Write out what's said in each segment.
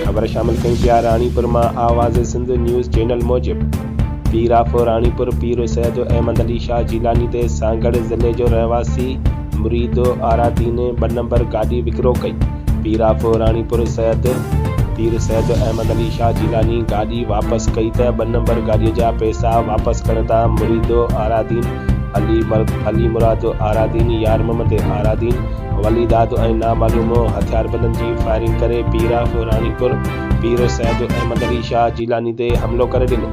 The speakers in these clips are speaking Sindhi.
خبر شامل ڪئي پيا راڻيپور مان آواز سنڌ نيوز چينل موجب پير آف راڻيپور پير سيد احمد علي شاھ جيلاني تي سانگهڙ ضلعي جو رهواسي مريد آرا دين ٻه نمبر گاڏي وڪرو ڪئي پير آف راڻيپور سيد پير سيد احمد علي شاھ جيلاني گاڏي واپس ڪئي ته ٻه نمبر گاڏيء جا پئسا واپس ڪرڻ تان مريد آرادين، علي علي مراد آرادين، يار محمد آرادين، ولي داد ۽ نامعلوم هٿياربندن جي فائرنگ ڪري پير آف راڻيپور پير سيد احمد علي شاھ جيلاني تي حملو ڪري ڏنو.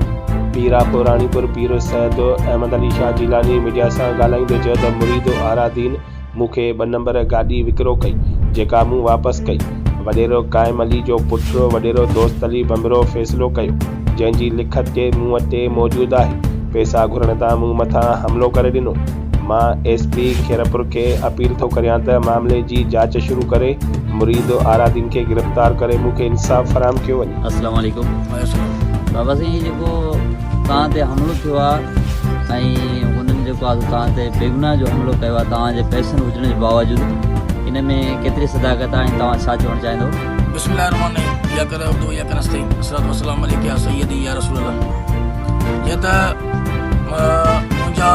پير آف راڻيپور پير سيد احمد علي شاھ جيلاني ميڊيا سان ڳالهائيندي چيو ته مريد آرادين، مون کي ٻه نمبر گاڏي وڪرو ڪئي، جيڪا مون واپس ڪئي. وڏيرو قائم علي جو پٺڙو وڏيرو دوست علي ڀنڀرو فيصلو ڪيو، جنهن جي لکت ڪي مون وٽي موجود آهي، پئسا گهرڻ تان مون مٿان حملو ڪري ڏنو. مان ايس پي خيرپور کي اپيل ٿو ڪريان ته معاملي جي جاچ شروع ڪري مريد آرادين کي گرفتار ڪري مون کي انصاف فراهم ڪيو وڃي. اسلام عليڪم بابا سائين هي جيڪو توهان تي حملو ٿيو آهي ۽ هنن جيڪو آهي توهان تي بيگناهه جو حملو ڪيو آهي توهان جي پئسن هجڻ جي باوجود ان ۾ ڪيتري صداقت آهي ۽ توهان ڇا چوڻ چاهيندو بسم الله الرحمن الرحيم يا ڪرا عبدو يا ڪرا سين اسرات والسلام عليك يا سيدي يا رسول الله جي ته منهنجا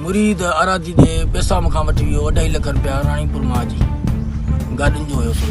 مريد اراضي دي پيسا مکان وٺي ويو اڍائي لک روپيا راڻي پور مان جي گاڏين جو هيو سو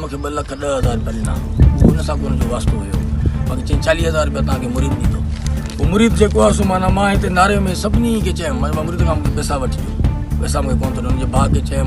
مون کي ٻه لک ڏهه هزار رپيا ڏنا اهو ان سان ڪو ان جو واسطو هيو باقي چيائين چاليهه هزار رپيا تان کي مريد ڏيندو هو مريد جيڪو آهي سو معنيٰ مان هتي ناري ۾ سڀني کي چيم معنيٰ مان مريد کان مون کي پيسا وٺجي پيسا مون کي ڪونه ٿو ڏي ان جي ڀاء کي چيم